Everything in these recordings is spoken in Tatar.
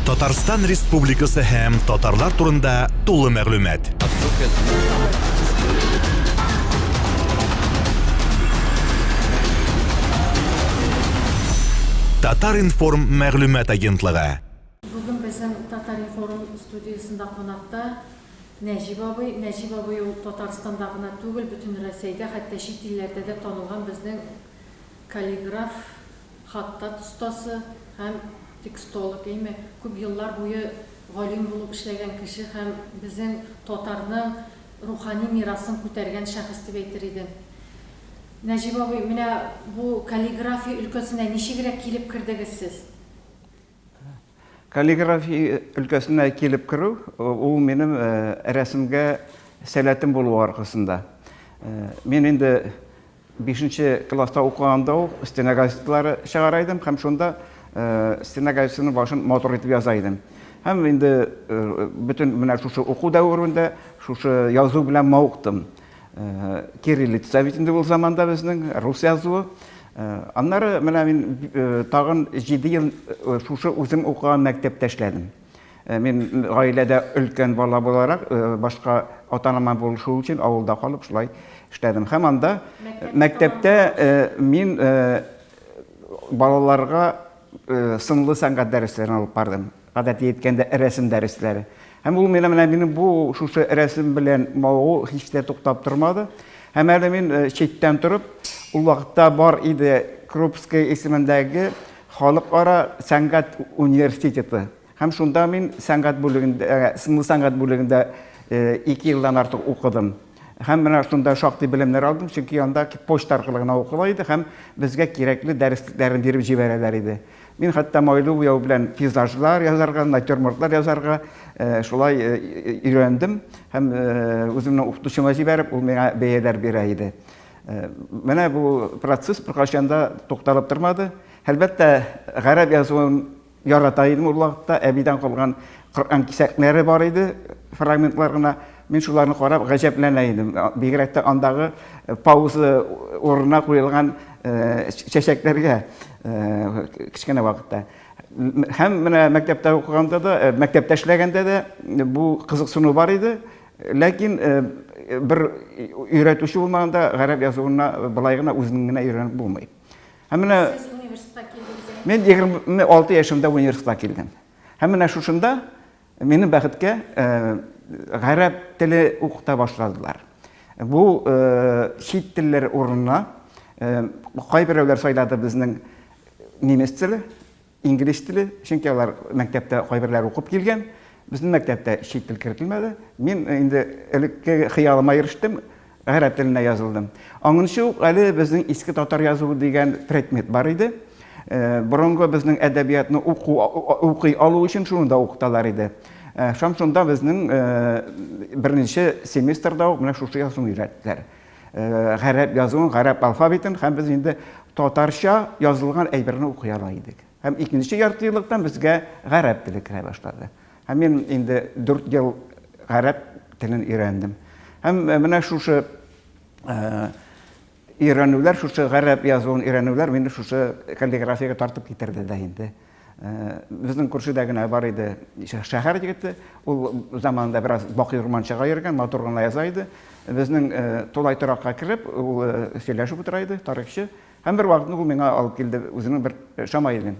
Татарстан Республикасы һәм татарлар турында тулы мәгълүмат. Татар-информ мәгълүмат агентлыгы. Бүген безнең Татар-информ студиясендә кунакта Нәҗип абый. Нәҗип абый ул Татарстанда гына түгел, бөтен Рәсәйдә, хәтта чит илләрдә дә танылган безнең Каллиграф, хаттат остасы һәм текстолог, әйме, күп еллар буе галим булып эшләгән кеше һәм безнең татарның рухани мирасын күтәргән шәхес дип әйтер идем. Нәҗип абый, менә бу каллиграфия өлкәсенә ничегрәк килеп кердегез сез? Каллиграфия өлкәсенә килеп керү, ул минем рәсемгә сәләтем булу аркасында. Мин инде 5 класста укыганда ук стена газетлары чыгара идем һәм шунда стена газетының башын матур итеп яза идем. Һәм инде бөтен менә шушы уку дәверендә шушы язу белән мавыктым. Кириллица бит инде ул заманда безнең рус язуы. Аннары менә мин тагын 7 ел шушы үзем укыган мәктәптә эшләдем. Мин гаиләдә өлкән бала буларак, башка ата-анама булышу өчен авылда калып шулай эшләдем. Һәм анда мәктәптә мин балаларга сынлы сәнгать дәресләрен алып бардым. Гадәти әйткәндә, рәсем дәресләре. Һәм ул мине менә минем бу шушы рәсем белән мавыгу һич тә туктап тормады. Һәм әле мин э, читтән торып, ул вакытта бар иде Крупский исемендәге халыкара сәнгать университеты. Һәм шунда мин сәнгать бүлегендә, э, сынлы сәнгать бүлегендә э, ике елдан артык укыдым. Һәм менә шунда шактый белемнәр алдым, чөнки анда почта аркылы гына укыла иде һәм безгә кирәкле дәресләрне биреп җибәрәләр иде. Мин хәтта майлы буяу белән пейзажлар язарга, натюрмортлар язарга э, шулай э, өйрәндем һәм э, үземнең укытучыма җибәреп, ул миңа бәяләр бирә иде. Менә бу процесс беркайчан да тукталып тормады. Әлбәттә, гарәп язуын ярата идем ул вакытта, әбидән калган Коръән кисәкләре бар иде, фрагментлар гына. Мин шуларны карап гаҗәпләнә идем. Бигрәк тә андагы пауза урынына куелган чәчәкләргә. кечкенә вакытта һәм менә мәктәптә укыганда да мәктәптә эшләгәндә дә бу кызыксыну бар иде ләкин бер өйрәтүче булмаганда гарәп язуына былай гына үзенең генә өйрәнеп булмый һәм менә мен егерме алты яшемдә университетка килдем һәм менә шушында Минем бәхеткә, гарәп теле укыта башладылар. Бу чит телләр урынына кайберәүләр сайлады безнең немец теле, инглиз теле, чөнки алар мәктәптә кайберләр укып килгән. Безнең мәктәптә чит тел кертелмәде. Мин инде элекке хыялыма ирештем. Гарәп теленә язылдым. Аңынчы ук әле безнең иске татар язуы дигән предмет бар иде. Борынгы безнең әдәбиятны уку, укый алу өчен шуны да укыталар иде. Шам шунда безнең беренче семестрда ук менә шушы язуны өйрәттеләр. Гарәп язуын, гарәп алфавитын һәм без инде татарча язылган әйберне укый ала идек. Һәм икенче яртыеллыкта безгә гарәп теле керә башлады. Һәм мин инде 4 ел гарәп телен өйрәндем. Һәм э, менә шушы э, өйрәнүләр, шушы гарәп язуын өйрәнүләр мине шушы каллиграфиягә тартып китерде дә инде. Э, безнең күршедә генә бар иде шәһәр егете, ул заманында бераз бакый урманчыга йөргән, матур гына яза иде. Безнең тулай торакка кереп, ул сөйләшеп утыра иде, тарихчы. Һәм бер вакытны ул миңа алып килде үзенең бер шамаилен.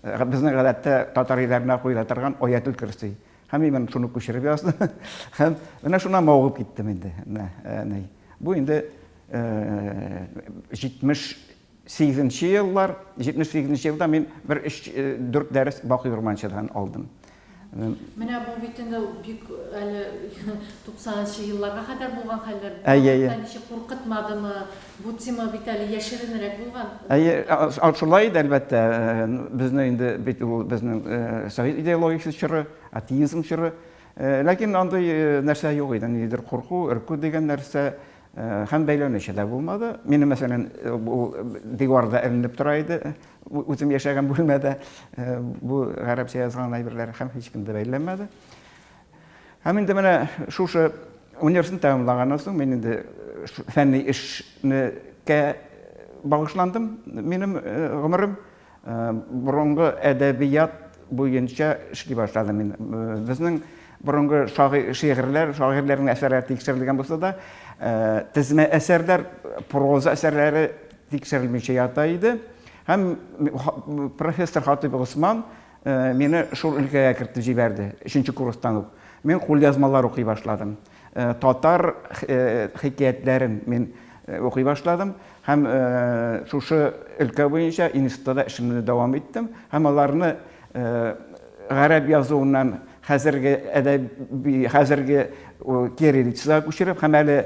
Безнең гадәттә татар өйләренә куела торган Аятел Көрси. Һәм мин моны шуны күчереп яздым. Һәм менә шуннан мавыгып киттем инде. Менә. Бу инде 78 нче еллар, 78 нче елда мин бер 3-4 дәрес Бакый Урманчыдан алдым. Менә бу бит инде бик әле 90 нчы елларга кадәр булган хәлләр. Әйе, әйе. Ничек куркытмадымы? Бу тема бит әле яшеренрәк булган. Әйе, шулай иде, әлбәттә. Безне инде бит ул безнең совет идеологиясе чоры, атеизм чоры. Ләкин андый нәрсә юк иде, нидер курку, өрку дигән нәрсә. Һәм бәйләнеше дә булмады. Минем, мәсәлән, ул диварда эленеп тора иде, үзем яшәгән бүлмәдә бу гарәпчә язган әйберләр һәм һичкем дә бәйләмәде. Һәм инде менә шушы университетны тәмамлаганнан соң мин инде фәнни эшнекә багышландым минем гомерем. Борынгы әдәбият буенча эшли башладым мин. Безнең борынгы шигырьләр, шагыйрьләрнең әсәрләре тикшерелгән булса да, тезмә әсәрләр, проза әсәрләре тикшерелмичә ята иде. Һәм профессор Хатыйп Госман мине шул өлкәгә кертеп җибәрде, өченче курстан ук. Мин кулъязмалар укый башладым. Татар хикәятләрен мин укый башладым һәм шушы өлкә буенча институтта да эшемне дәвам иттем һәм аларны гарәп язуыннан хәзерге әдәби хәзерге кириллицага күчереп һәм әле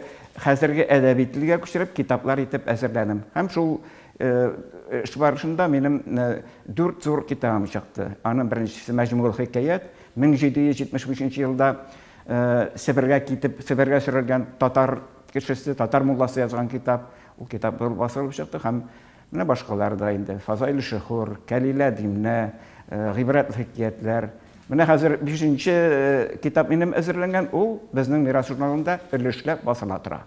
хәзерге әдәби телгә күчереп китаплар итеп әзерләдем һәм шул эш барышында минем дүрт зур китабым чыкты аның беренчесе мәҗмүгул хикәят 1773 елда Себергә китеп, Себергә сөрелгән татар кешесе, татар мулласы язган китап. Ул китап зур басылып чыкты һәм менә башкалар да инде. Фазаиль Шөхүр, Кәлилә Димнә, гыйбрәтле хикиятләр. Менә хәзер бишенче китап минем әзерләнгән, ул безнең Мирас журналында өлешләп басыла тора.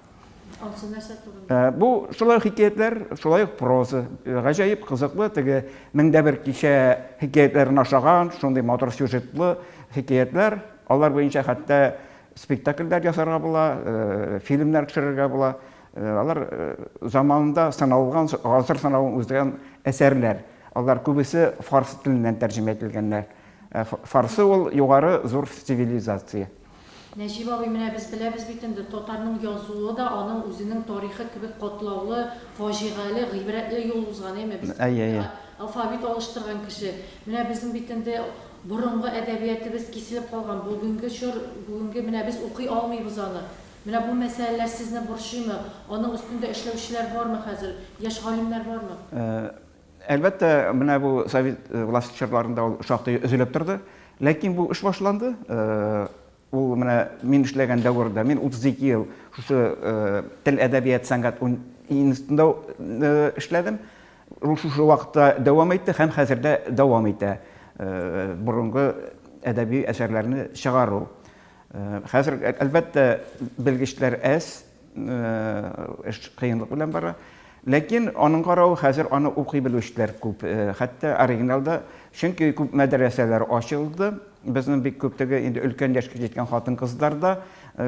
Алсу нәрсә турында? Э, бу шулай хикәятләр, шулай ук проза. Э, гаҗәеп кызыклы теге меңдә бер кичә хикәятләрен ашаган, шундый матур сюжетлы хикәятләр. Алар буенча хәтта спектакльләр ясарга була, э, фильмнар төшерергә була. Алар заманында саналган, гасыр санавын үздергән әсәрләр. Алар күбесе фарс теленнән тәрҗемә ителгәннәр. Фарсы ул югары зур цивилизация. Нәҗип абый, менә без беләбез бит инде, татарның язуы да аның үзенең тарихы кебек катлаулы, фаҗигале, гыйбрәтле юл узган, әйме? Без Әйе, әйе. инде алфавит алыштырган кеше. Менә безнең бит инде борынгы әдәбиятебез киселеп калган, бүгенге чор, бүгенге менә без укый алмыйбыз аны. Менә бу мәсьәләләр сезне борчыймы? Аның өстендә эшләүчеләр бармы хәзер? Яшь галимнәр бармы? Әлбәттә, менә бу совет э, власте чорларында ул шактый өзелеп торды. Ләкин бу эш башланды. Э, ул менә мин эшләгән дәвердә, мин 32 ел шушы э, тел, әдәбият, сәнгать институтында эшләдем. Ул шушы вакытта дәвам итте һәм хәзер дә дәвам итә. Борынгы әдәби әсәрләрне чыгару. Хәзер, әлбәттә, белгечләр әз, Эш кыенлык белән бара. Ләкин аның каравы хәзер аны укый белүчеләр күп. Хәтта оригиналда, чөнки күп мәдрәсәләр ачылды. Безнең бик күптеге инде өлкән яшькә җиткән хатын-кызлар да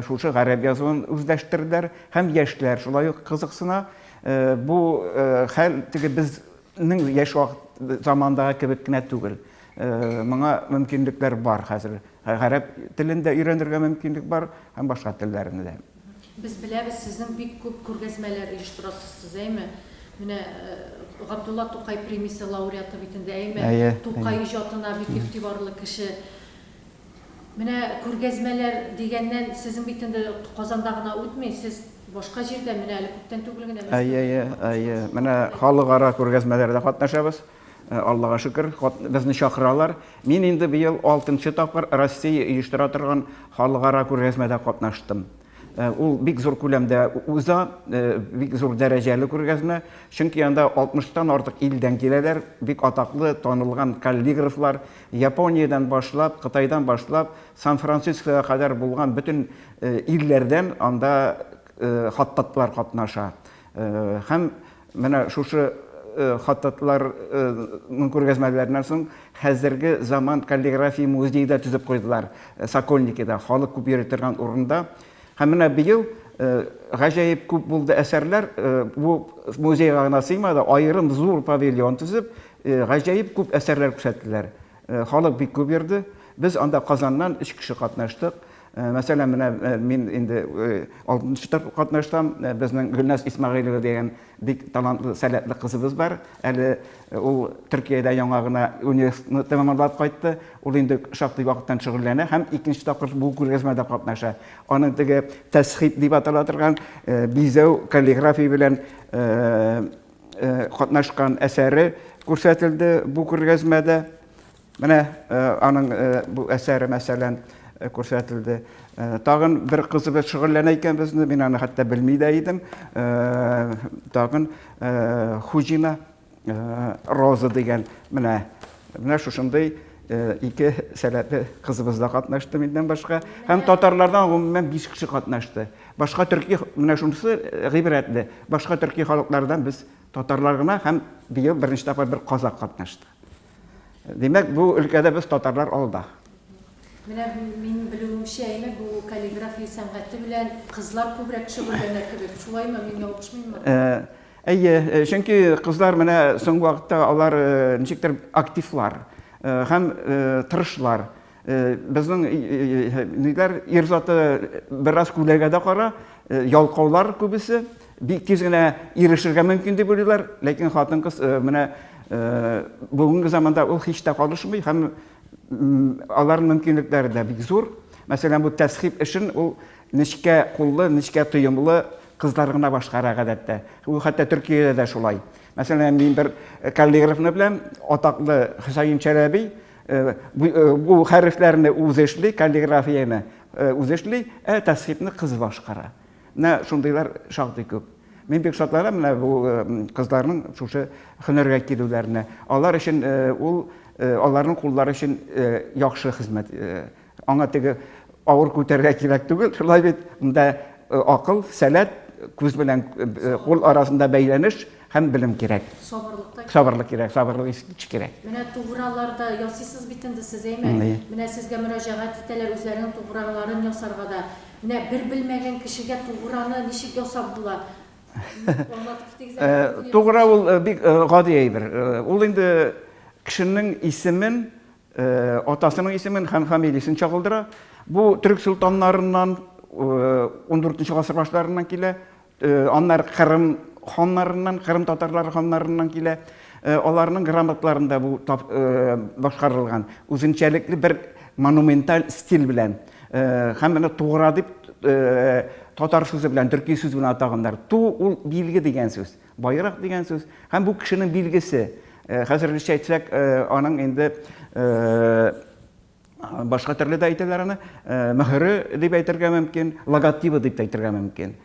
шушы гарәп язуын үзләштерделәр һәм яшьләр шулай ук кызыксына. Бу хәл теге безнең яшь вакыт замандагы кебек кенә түгел. Моңа мөмкинлекләр бар хәзер. Гарәп телен дә өйрәнергә мөмкинлек бар һәм башка телләрне дә. Без беләбез, сезнең бик күп күргәзмәләр оештырасыз сез, әйме? Менә Габдулла Тукай премиясе лауреаты бит инде, әйме? Әйе, әйе. Тукай иҗатына бик игътибарлы кеше. Менә күргәзмәләр дигәннән, сезнең бит инде Казанда гына үтми, сез башка җирдә, менә әле күптән түгел генә Мәскәүдә Әйе, әйе, әйе. Менә халыкара күргәзмәләрдә катнашабыз. Э, Аллага шөкер, безне чакыралар. Мин инде быел алтынчы тапкыр Россия оештыра торган халыкара күргәзмәдә катнаштым. Э, ул бик зур күләмдә уза, э, бик зур дәрәҗәле күргәзмә, чөнки анда 60-тан артык илдән киләләр, бик атаклы, танылган каллиграфлар, Япониядән башлап, Кытайдан башлап, Сан-Францискога кадәр булган бөтен илләрдән анда хаттатлар катнаша. Һәм Менә шушы хатытларның күргәзмәләреннән соң хәзерге заман каллиграфия музее да төзеп куйдылар Сокольникида, халык күп йөри торган урында. Һәм менә быел гаҗәеп күп булды әсәрләр, бу музейга гына сыймады, аерым зур павильон төзеп, гаҗәеп күп әсәрләр күрсәттеләр. Халык бик күп йөрде. Без анда Казаннан өч кеше катнаштык. Э, мәсәлән менә э, мин инде э, алтынчы тапкыр катнашам безнең гөлназ исмәгыйлова дигән бик талантлы сәләтле кызыбыз бар әле ул төркиядә яңа гына университетны тәмамлап кайтты ул инде шактый вакыттан шөгыльләнә һәм икенче тапкыр бу күргәзмәдә катнаша аны теге тәсхип дип атала торган бизәү каллиграфия белән катнашкан әсәре күрсәтелде бу күргәзмәдә Менә аның бу әсәре, мәсәлән, күрсәтелде. Тагын бер кызы бер шөгыльләнә икән безне, мин аны хәтта белми дә идем. Тагын Хуҗина Роза дигән менә менә шушындый ике сәләтле кызыбыз да катнашты миннән башка. Һәм татарлардан гомумән 5 кеше катнашты. Башка төрки менә шунысы гыйбрәтле. Башка төрки халыклардан без татарлар гына һәм быел беренче тапкыр бер казак катнашты. Димәк, бу өлкәдә без татарлар алда. Менә мин белүемчә, әйме, бу каллиграфия сәнгате белән кызлар күбрәк шөгыльләнә кебек. Шулаймы, мин ялгышмыйммы? Әйе, чөнки кызлар менә соңгы вакытта алар ничектер активлар һәм тырышлар. Э, безнең э, э, ниләр ир заты бераз күләгә дә кара ялкаулар күбесе бик тиз генә ирешергә мөмкин дип уйлыйлар ләкин хатын кыз менә бүгенге заманда ул һич тә калышмый һәм аларның мөмкинлекләре дә бик зур мәсәлән бу тәсхип эшен ул нечкә куллы нечкә тоемлы кызлар гына башкара гадәттә ул хәтта төркиядә дә шулай мәсәлән мин бер каллиграфны белән атаклы хөсәен чәләби Бу хәрефләрне үзе эшли, каллиграфияне үзе эшли, ә тәсхипне кыз башкара. Менә шундыйлар шактый күп. Мин бик шатланам менә бу кызларның шушы һөнәргә килүләренә. Алар өчен ул аларның куллары өчен яхшы хезмәт Аңа теге авыр күтәргә кирәк түгел, шулай бит, монда акыл, сәләт, күз белән кул арасында бәйләнеш һәм белем кирәк. Сабырлыкта сабырлык кирәк, сабырлык ич кирәк. Менә туграларда ясыйсыз бит инде сез, әйме? Менә сезгә мөрәҗәгать итәләр үзләренең туграларын ясарга да. Менә бер белмәгән кешегә туграны ничек ясап була? Аңлатып китегез әле. Тугра ул бик гади әйбер. Ул инде кешенең исемен Атасының исемен һәм фамилиясен чагылдыра. Бу төрек солтаннарыннан, undүртенче гасыр башларыннан килә. Аннары Кырым ханнарыннан, Кырым татарлары ханнарыннан килә. Аларның грамотларында бу башкарылган. Үзенчәлекле бер монументаль стиль белән. Һәм менә Тугра дип татар сүзе белән, төрки сүз белән атаганнар. Ту ул билге дигән сүз. Байрак дигән сүз һәм бу кешенең билгесе. Э, хәзергечә әйтсәк, э, аның инде э, башка төрле дә әйтәләр аны, мөһере дип әйтергә мөмкин, логотибы дип әйтергә мөмкин.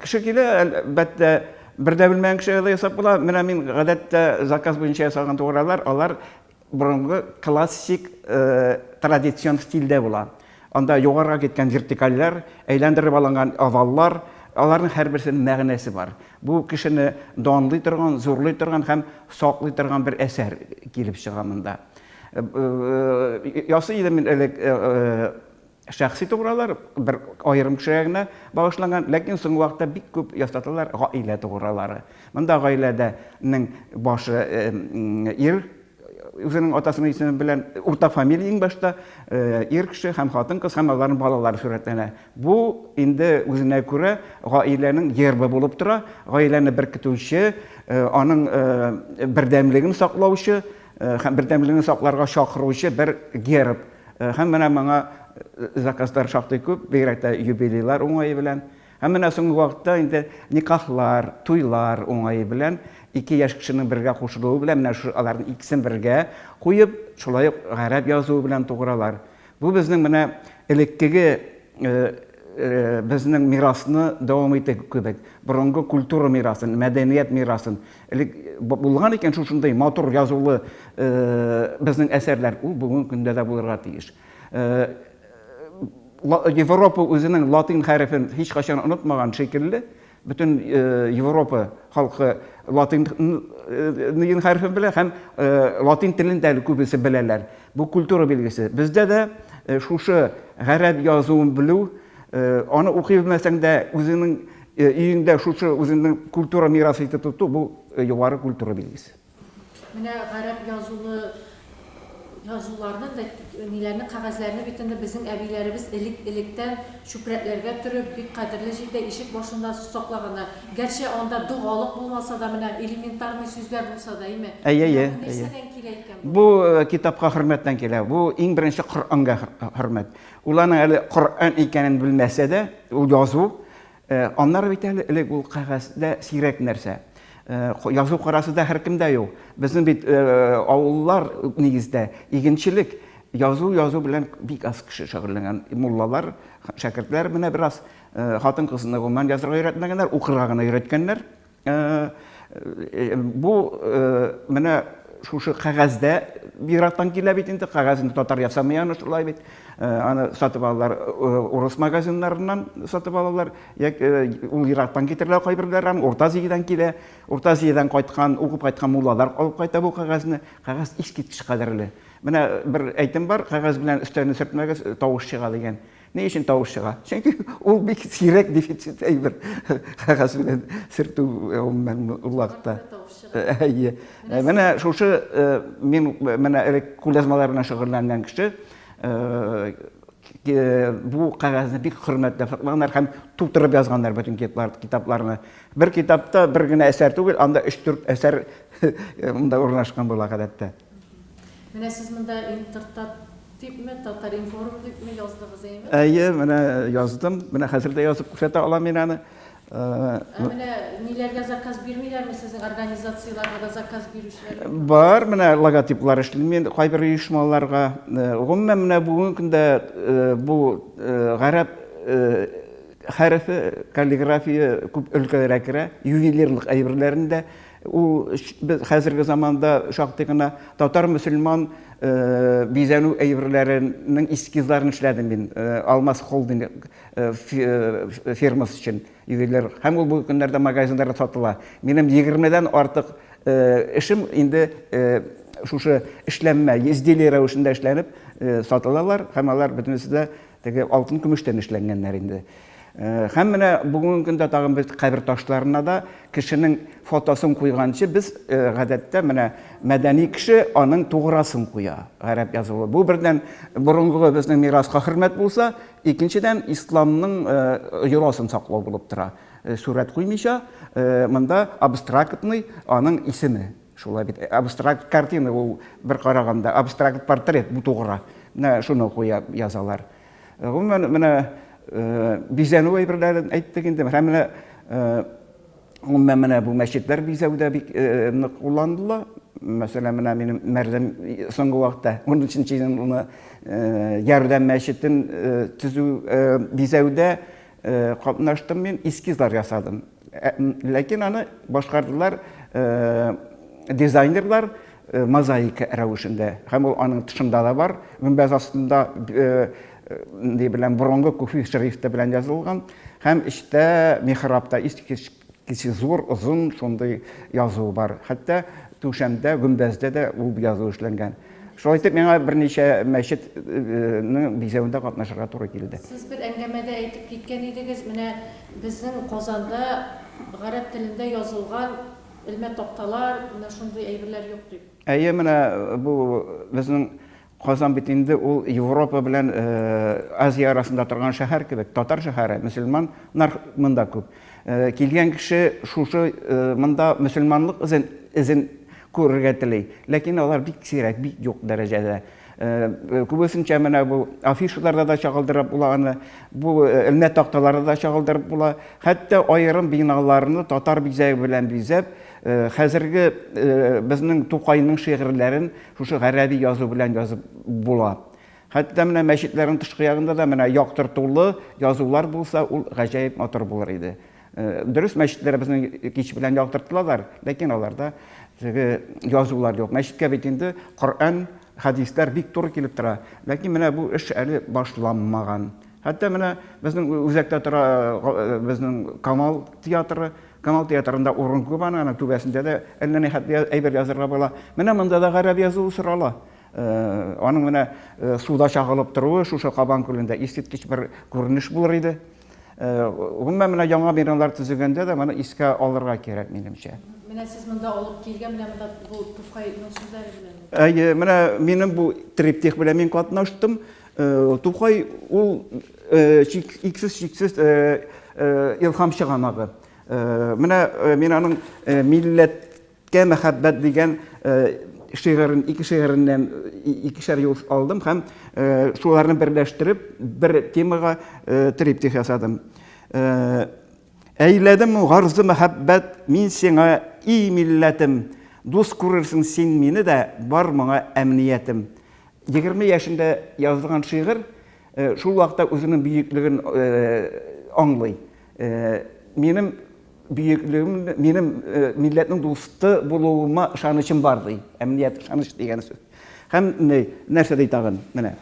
Кеше килә, әлбәттә, бер дә белмәгән кеше ясап була. Менә мин гадәттә заказ буенча ясалган тугралар, алар Борынгы классик традицион стильдә була. Анда югарыга киткән вертикальләр, әйләндереп алынган оваллар, аларның һәрберсенең мәгънәсе бар. Бу кешене данлый торган, зурлый торган һәм саклый торган бер әсәр килеп чыга монда. Ясый идем мин элек Шәхси тугралар бер аерым кешегә генә багышланган, ләкин соңгы вакытта бик күп ясаталар гаилә тугралары. Монда гаиләдә нең башы ир, үзенең атасының исеме белән, уртак фамилия иң башта, ир кеше һәм хатын-кыз һәм аларның балалары сурәтләнә. Бу инде үзенә күрә гаиләнең гербы булып тора, гаиләне беркетүче, аның бердәмлеген саклаучы һәм бердәмлеген сакларга чакыручы бер герб. Һәм менә моңа заказлар шактый күп, бигрәк тә юбилейлар уңае белән. Һәм менә соңгы вакытта инде никахлар, туйлар уңае белән, ике яшь кешенең бергә кушылуы белән, менә шушы аларның икесен бергә куеп, шулай ук гарәп язуы белән тугыралар. Бу безнең менә элеккеге безнең мирасны дәвам итү кебек, борынгы культура мирасын, мәдәният мирасын, Элек булган икән шушындый матур язулы безнең әсәрләр, ул бүгенге көндә дә булырга тиеш. Европа үзенең латин хәрефен һичкайчан онытмаган шикелле, бөтен Европа халкы латин хәрефен белә һәм латин телен дә күбесе беләләр. Бу культура билгесе. Бездә дә шушы гарәп язуын белү, Аны укый белмәсәң дә, үзеңнең өеңдә шушы үзеңнең культура мирасы итеп тоту, бу югары культура билгесе. Менә гарәп язулы язуларны да, ниләрне, кәгазьләрне бит инде безнең әбиләребез элек-электән чүпрәкләргә төреп, бик кадерле җирдә, ишек башында саклаганнар. Гәрчә анда догалык булмаса да, менә элементарный сүзләр булса да, әйме? Әйе, әйе. Менә бу нәрсәдән килә икән бу? Бу китапка хөрмәттән килә. Бу иң беренче Коръәнгә хөрмәт. Ул аның әле Коръән икәнен белмәсә дә, ул язу, аннары бит әле элек ул кәгазьдә сирәк нәрсә. Язу карасы да һәркемдә юк. Безнең бит авыллар нигездә игенчелек, язу, язу белән бик аз кеше шөгыльләнгән. Муллалар, шәкертләр менә бераз хатын-кызны гомумән язарга өйрәтмәгәннәр, укырга гына өйрәткәннәр. Э, э, бу э, менә шушы кәгазьдә бигрәктән килә бит инде кәгазьне татар ясамый аны шулай бит аны сатып алалар урыс магазиннарыннан сатып алалар ул ерактан китерелә кайберләре аны урта азиядән килә урта азиядән кайткан укып кайткан муллалар алып кайта бу кәгазьне кәгазь искиткеч кадерле менә бер әйтем бар кәгазь белән өстәлне сөртмәгез тавыш чыга дигән Ни өчен тавыш чыга? Чөнки ул бик сирәк дефицит әйбер. Кәгазь белән сертү гомумән улакта. Әйе. Менә шушы мин менә элек кулязмалар белән шөгыльләнгән кеше бу кәгазьне бик хөрмәтләп саклаганнар һәм тутырып язганнар бөтен китапларны. Бер китапта бер генә әсәр түгел, анда 3-4 әсәр монда урнашкан була гадәттә. Менә сез монда Интертат дипме, Татар-информ дипме яздыгыз, әйеме? Әйе, менә яздым. Менә хәзер дә язып күрсәтә алам мин аны. Ә менә ниләргә заказ бирмиләрме сезнең организацияләргә дә заказ бирүчеләр? Бар, менә логотиплар эшлим мин кайбер оешмаларга. Гомумән, менә бүгенге көндә бу гарәп хәрефе, каллиграфия күп өлкәләргә керә, ювелирлык әйберләрен дә Ул без хәзерге заманда шактый гына татар-мөселман бизәнү әйберләренең эскизларын эшләдем мин Алмаз холдинг фирмасы өчен ювелир. Һәм ул бүгенге көннәрдә магазиннарда сатыла. Минем 20-дән артык эшем инде шушы эшләнмә, изделие рәвешендә эшләнеп сатылалар һәм алар бөтенесе дә Теге алтын-көмештән эшләнгәннәр инде. Һәм менә бүгенге көндә тагын без кабер ташларына да кешенең фотосын куйганчы без гадәттә менә мәдәни кеше аның туграсын куя. Гарәп язуы. Бу бердән борынгы безнең мираска хөрмәт булса, икенчедән исламның йоласын саклау булып тора. Сурәт куймыйча, монда абстрактный аның исеме. Шулай бит, абстракт картина ул бер караганда, абстракт портрет бу тугра. Менә шуны куя язалар. Гомумән, менә бизәнү әйберләрен әйттек инде. Һәм менә гомумән менә бу мәчетләр бизәүдә бик нык кулланылды. Мәсәлән, менә минем Мәрлем соңгы вакытта 13 елны ярдәм мәчетен төзү бизәүдә Э, катнаштым мин эскизлар ясадым э, ләкин аны башкардылар э, дизайнерлар мозаика рәвешендә һәм ул аның тышында да бар гөмбәз астында ни белән борынгы күфи шрифты белән язылган һәм эчтә михрабта искиткеч Кече, зур, озын шундый язу бар. Хәтта түшәмдә, гөмбәздә дә ул язу эшләнгән. Шулай итеп, миңа берничә мәчетнең бизәвендә катнашырга туры килде. Сез бер әңгәмәдә әйтеп киткән идегез, менә безнең Казанда гарәп телендә язылган элмә такталар, менә шундый әйберләр юк дип. Әйе, менә бу безнең Казан бит инде ул Европа белән Азия арасында торган шәһәр кебек, татар шәһәре, мөселман нар монда күп. Килгән кеше шушы монда мөселманлык эзен, эзен күрергә тели. Ләкин алар бик сирәк, бик юк дәрәҗәдә. Күбесенчә менә бу афишаларда да чагылдырып була аны, бу элмә такталарда да чагылдырып була. Хәтта аерым биналарны татар бизәге белән бизәп, хәзерге безнең Тукайның шигырьләрен Шушы гарәби язу белән язып була. Хәтта менә мәчетләрнең тышкы ягында да менә яктыртулы язулар булса, ул гаҗәеп матур булыр иде. Э, дөрес мәчетләребезнең кич белән яктыртылалар ләкин аларда теге язулар юк мәчеткә бит инде коръән хәдисләр бик туры килеп тора ләкин менә бу эш әле башланмаган хәтта менә безнең үзәктә тора э, безнең камал театры Камал театрында урын күп аның, аның түбәсендә дә әллә ни хәтле әйбер язырга була. Менә монда да гарәп язуы сорала. Аның менә суда чагылып торуы шушы Кабан күлендә искиткеч бер күренеш булыр иде. Гомумән, менә яңа биналар төзегәндә дә моны искә алырга кирәк, минемчә. Менә сез монда алып килгән, менә монда бу Туфайның сүзләре белән. Әйе, менә минем бу триптих белән мин катнаштым. Э, Тукай ул э, иксез-чиксез э, илхам чыганагы. Менә мин аның милләткә мәхәббәт дигән шигырен, ике шигыреннән икешәр юл алдым һәм шуларны берләштереп бер темага триптих ясадым. Әйләдем гарзу мәхәббәт мин сиңа, и милләтем, Дус күрерсең син мине дә, бар моңа әмниятем. Егерме яшендә язылган шигырь, шул вакытта үзенең бөеклеген аңлый. Минем бөеклегем, минем милләтнең дусты булуыма ышанычым бар, ди. Әмният, ышаныч дигән сүз. Һәм нәрсә ди тагын? Менә.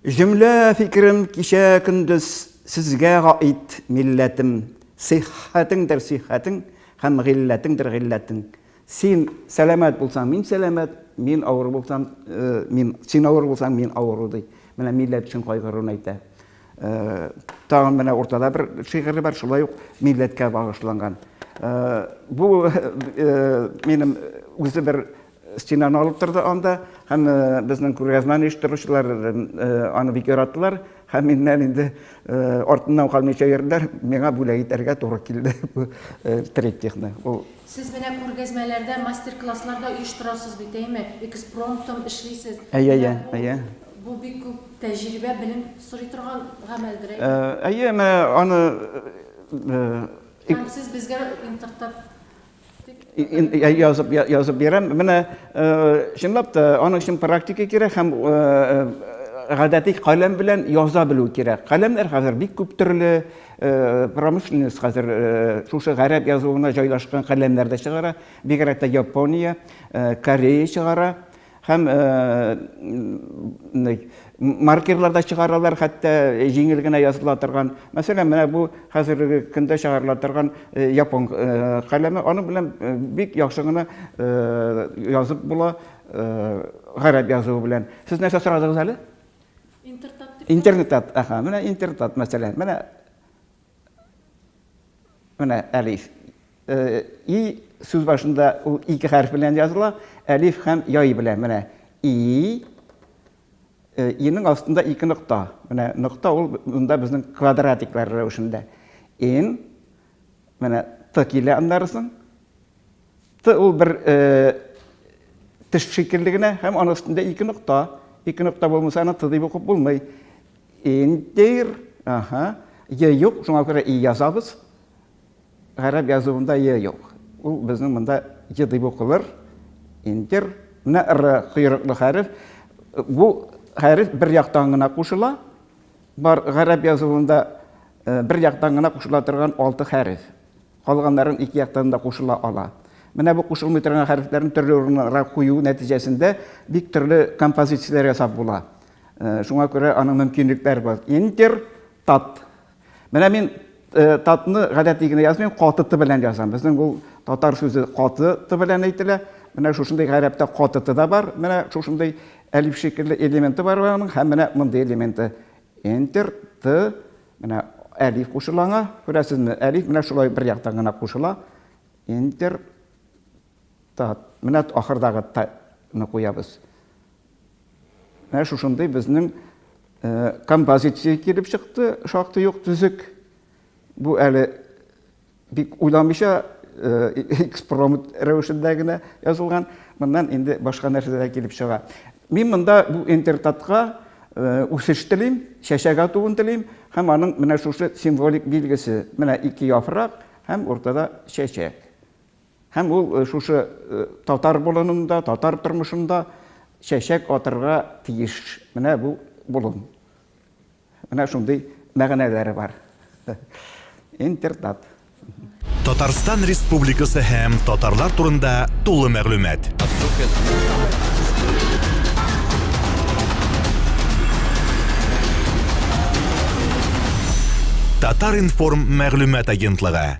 Җөмлә фикерем кичә көндез сезгә гаит милләтем Сиххәтеңдер сиххәтең һәм гыйлләтеңдер гыйлләтең Син сәламәт булсаң, мин сәламәт, мин авыру булсам, мин, син авыру булсаң, мин авыру, ди. Менә милләт өчен кайгыруын әйтә. Тагын менә уртада бер шигыре бар, шулай ук милләткә багышланган. Бу минем үзе бер Стенаны алып торды анда, һәм безнең күргәзмәне оештыручылар аны бик яратылар, һәм миннән инде артыннан калмыйча йөрделәр, миңа бүләк итәргә туры килде бу триптихны. Ул Сез менә күргәзмәләрдә, мастер-класслар да оештырасыз бит, әйме? Экспромтом эшлисез. Әйе, әйе, әйе. Бу бик күп тәҗрибә, белем сорый торган гамәлдер, әйме? Әйе, менә аны Һәм сез безгә интертат язып язып бирәм менә чынлап та аның өчен практика кирәк һәм гадәти каләм белән яза белү кирәк каләмнәр хәзер бик күп төрле промышленность хәзер шушы гарәп язуына җайлашкан каләмнәр дә чыгара бигрәк тә япония корея чыгара Һәм маркерлар да чыгаралар, хәтта җиңел генә языла торган. Мәсәлән, менә бу хәзерге көндә чыгарыла торган япон каләме, аның белән бик яхшы гына язып була гарәп язуы белән. Сез нәрсә сорадыгыз әле? Интертат. Интертат, аха, менә интертат мәсәлән. Менә Менә әлиф. Э, и сүз башында ул ике хәреф белән языла, әлиф һәм яй белән. Менә и э, инең астында ике нокта. Менә нокта ул монда безнең квадратиклар рәвешендә. Ин менә т килә аннарысын. Т ул бер теш шикелле генә һәм аның өстендә ике нокта. Ике нокта булмаса, аны Т дип укып булмый. Индир, аһа, Е юк, шуңа күрә И язабыз. Гарәп язуында Е юк. Ул безнең монда Е дип укылыр. Индир. Менә Р койрыклы хәреф. Бу хәреф бер яктан гына кушыла. Бар гарәп язуында бер яктан гына кушыла торган алты хәреф. Калганнарын ике яктан да кушыла ала. Менә бу кушылмый торган хәрефләрне төрле урыннарга кую нәтиҗәсендә бик төрле композицияләр ясап була. Шуңа күрә аның мөмкинлекләре бар. Интер, тат. Менә мин татны гадәти генә язмыйм, каты ты белән язам. Безнең ул татар сүзе каты ты белән әйтелә. Менә шушындый гарәптә каты ты да бар. Менә шушындый әлиф шикелле элементы бар аның һәм менә мондый элементы. Интер, ты, Менә әлиф кушыла аңа. Күрәсезме, әлиф менә шулай бер яктан гына кушыла. Интер тат. Менә ахырдагы таны куябыз. Менә шушындый безнең композиция килеп чыкты, шактый ук төзек. Бу әле Бик уйламыйча экспромт рәвешендә генә язылган. Моннан инде башка нәрсә дә килеп чыга. Мин монда бу интертатка үсеш телим, чәчәк атуын телим һәм аның менә шушы символик билгесе, менә ике яфрак һәм уртада чәчәк. Һәм ул шушы татар болынында, татар тормышында чәчәк атырга тиеш. Менә бу болын. Менә шундый мәгънәләре бар. Интертат. Татарстан Республикасы һәм татарлар турында тулы мәгълүмат. Татар-информ мәгълүмат агентлыгы.